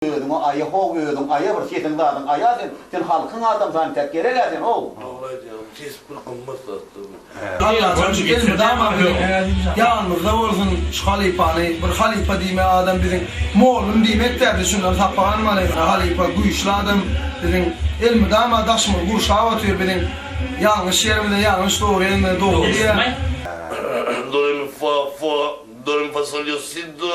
Özüňe aýa how özüň aýa bir sesiň zadyň aýa sen sen halkyň adamsy ançak gerek a sen how. Dogry aýdýaňyz ses bir gymmat zatdyr bu. Alla taňry elmydama biziň ýanymyzda bolsun şu halypany bir halypa diýme adam biziň mollum diýmek däl şundan sapak almaly halypa güýçli adam biziň elmydama daşymyz gurşap otyr biziň ýalňyş ýerimize ýalňyş dogry ýerimize dogry diýýär. Doremi fa fa, do remi fa sol yo si do.